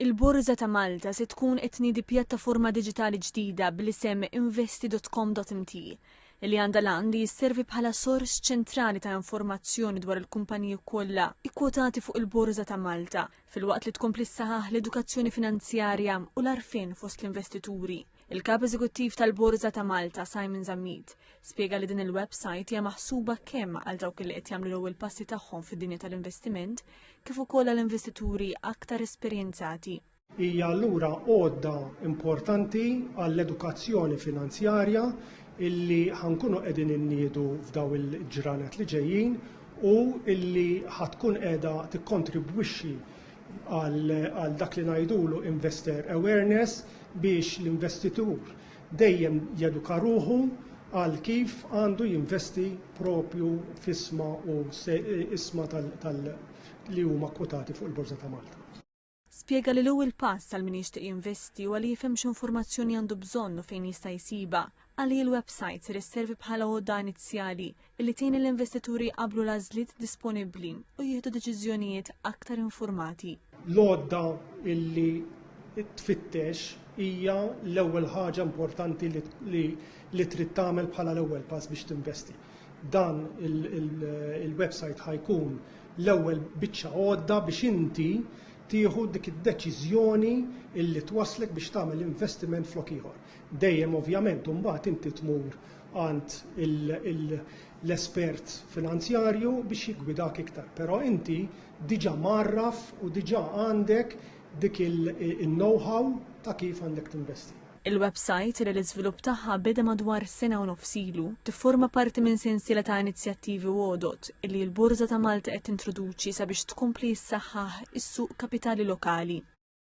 Il-Borża ta' Malta se tkun qed tniedi pjattaforma diġitali ġdida bl-isem investi.com.mt, li għandha l-għan li sservi bħala sors ċentrali ta' informazzjoni dwar il-kumpaniji kollha kkwotati fuq il-Borża ta' Malta, filwaqt li tkompli ssaħaħ l-edukazzjoni finanzjarja u l-għarfien fost l-investituri. Il-Kap Eżekuttiv tal-Borża ta' Malta, Simon Zammit, spjega li din il-website hija maħsuba kemm għal dawk li qed jagħmlu l-ewwel passi tagħhom fid-dinja tal-investiment kif ukoll għal investituri aktar esperjenzati. Hija allura għodda importanti għall-edukazzjoni finanzjarja illi ħankunu qegħdin inniedu f'daw il-ġranet li ġejjin u illi ħatkun qiegħda tikkontribwixxi għal dak li ngħidulu investor awareness biex l-investitur dejjem jeduka ruħu għal kif għandu jinvesti propju f'isma u isma tal li huma kwotati fuq il-Borża ta' Malta. Spjega li l-ewwel pass għal min jixtieq jinvesti huwa li jifhem x'informazzjoni għandu bżonn u fejn jista' jsibha. Għalih il-websajt ser isservi bħala għodda inizjali li tgħin lill-investituri jqabblu l-għażliet disponibbli u jieħdu deċiżjonijiet aktar infurmati. L-għodda li tfittex hija l-ewwel ħaġa importanti li trid tagħmel bħala l-ewwel pass biex tinvesti. Dan il-websajt ħa jkun l-ewwel biċċa għodda biex inti tieħu dik id-deċiżjoni li twasslek biex tagħmel investiment flok ieħor. Dejjem ovvjament imbagħad inti tmur għand l-espert finanzjarju biex jiggwidak iktar, però inti diġà mgħarraf u diġà għandek dik il-know-how ta' kif għandek tinvesti. Il-websajt, li l-iżvilupp tagħha beda madwar sena u nofs ilu, tifforma parti minn sensiela ta' inizjattivi u għodod li l-Borża ta' Malta qed tintroduċi sabiex tkompli ssaħħaħ is-suq kapitali lokali.